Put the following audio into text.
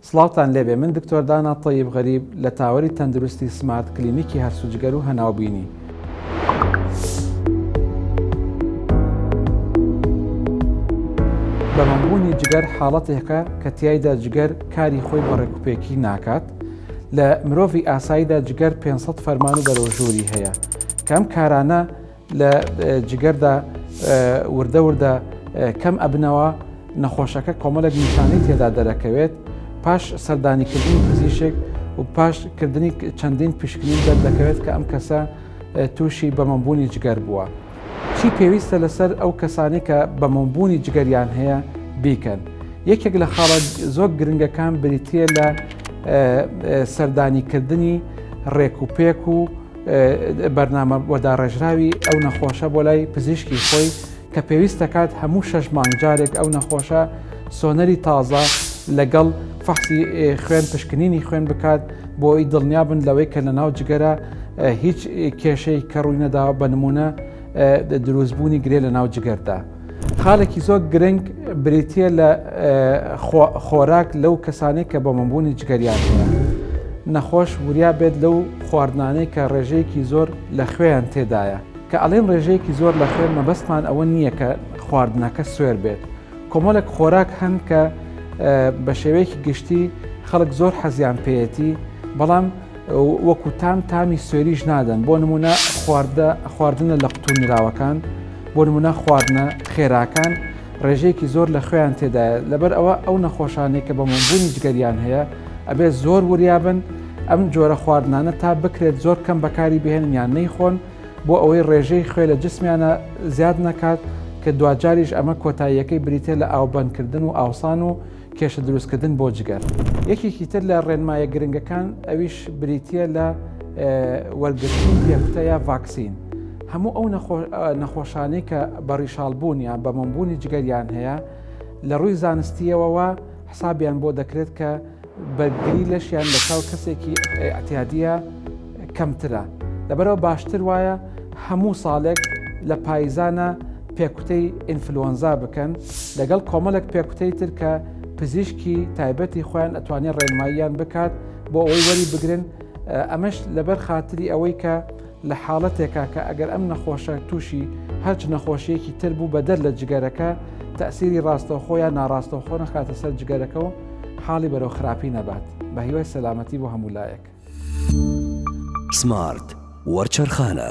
سڵاوتان لێبێ من دکتۆر دانا تەیب غەریب لە تاوەری تەندروستی سمارت کلینیکی هەرس و جگەر و هەناوبینی. بەمەمبوونی جگەر حاڵەتێکە کە تیایدا جگەر کاری خۆی بە ڕێکوپێکی ناکات لە مرۆڤی ئاساییدا جگەر 500 فەرمان و بەرەوژووری هەیە کەم کارانە لە جگەردا وردە وردە کەم ئەبنەوە نەخۆشەکە کۆمەلێک نیشانەی تێدا دەرەکەوێت پاش سەردانیکردنی پزیشێک و پاش کردنی چەندین پشکنی دەردەکەوێت کە ئەم کەسە تووشی بەمەبوونی جگەر بووە چی پێویستە لەسەر ئەو کەسانی کە بەمەبوونی جگەریان هەیە بیکەن یەکێک لە خاڵە زۆر گرنگەکان بریتە لە سەردانیکردنی ڕێک و پێک و بەرنامە بۆ داڕێژراوی ئەو نەخۆشە بۆ لای پزیشکی خۆی کە پێویست دەکات هەموو شەش مانگ جارێک ئەو نەخۆشە سۆنەری تازە لەگەڵ فەحسی خوێن پشکنینی خوێن بکات بۆ ئەوی دڵنیا بن لەوەی کە لە ناو جگەرە هیچ کێشەی کە ڕووی نەداوە بە نمونە دروستبوونی گرێ لە ناو جگەردا. خاڵێکی زۆر گرنگ بریتە لە خۆراک لەو کەسانی کە بۆ منبوونی جگەریان نەخۆش وریا بێت لەو خواردنانەی کە ڕێژەیەکی زۆر لە خوێیان تێدایە کە ئەڵێن ڕێژەیەکی زۆر لە خوێن مەبەستمان ئەوە نییە کە خواردنەکە سوێر بێت کۆمەڵێک خۆراک هەن کە بە شێوەیەکی گشتی خەڵک زۆر حەزیان پێەتی بەڵام وەکو تام تامی سوێریش نادەن بۆ نمونە خواردە خواردنە لە قوتو نراوەکان بۆ نمونە خواردنە خێراکان ڕێژەیەکی زۆر لە خوێیان تێدایە لەبەر ئەوە ئەو نەخۆشانێک کە بە مەبوونی جگەریان هەیە ئەبێت زۆر وریابن ئەم جۆرە خواردنانە تا بکرێت زۆر کەم بەکاری بهێنیان نەیخۆن بۆ ئەوەی ڕێژەی خوێ لە جسمیانە زیاد نەکات کە دواجاریش ئەمە کۆتاییەکەی بریتە لە ئاوبندکردن و ئاوسان و کێشە دروستکردن بۆ جگەر. یەکێکی تر لە ڕێنمایە گرنگەکان ئەویش بریتییە لە وەرگرتنی پێکوتە یا ڤاکسین. هەموو ئەو نەخۆشانەی کە بە ڕیشاڵبوون یان بە مۆمبوونی جگەریان هەیە لە ڕووی زانستیەوەوە حسابیان بۆ دەکرێت کە بەرگری لەشیان لە چاو کەسێکی ئەتیادیە، کەمترە لەبەرئەوە باشتر وایە هەموو ساڵێک لە پایزانە پێکوتەی ئینفلۆنزا بکەن لەگەڵ کۆمەڵێک پێکوتەی تر کە پزیشکی تایبەتی خۆیان ئەتوانێت ڕێنماییان بکات بۆ ئەوەی وەری بگرن ئەمەش لەبەر خاتری ئەوەی کە لە حاڵەتێکا کە ئەگەر ئەم نەخۆشە تووشی هەرچ نەخۆشیەکی تر بوو بەدەر لە جگەرەکە تەسیری ڕاستەوخۆیان ناڕاستەوخۆ نەخاتە سەر جگەرەکە و حاڵی بەرەو خراپی نەبات بە هیوای سەلامەتی بۆ هەموو لایەک. سمارت وەرچەرخانە.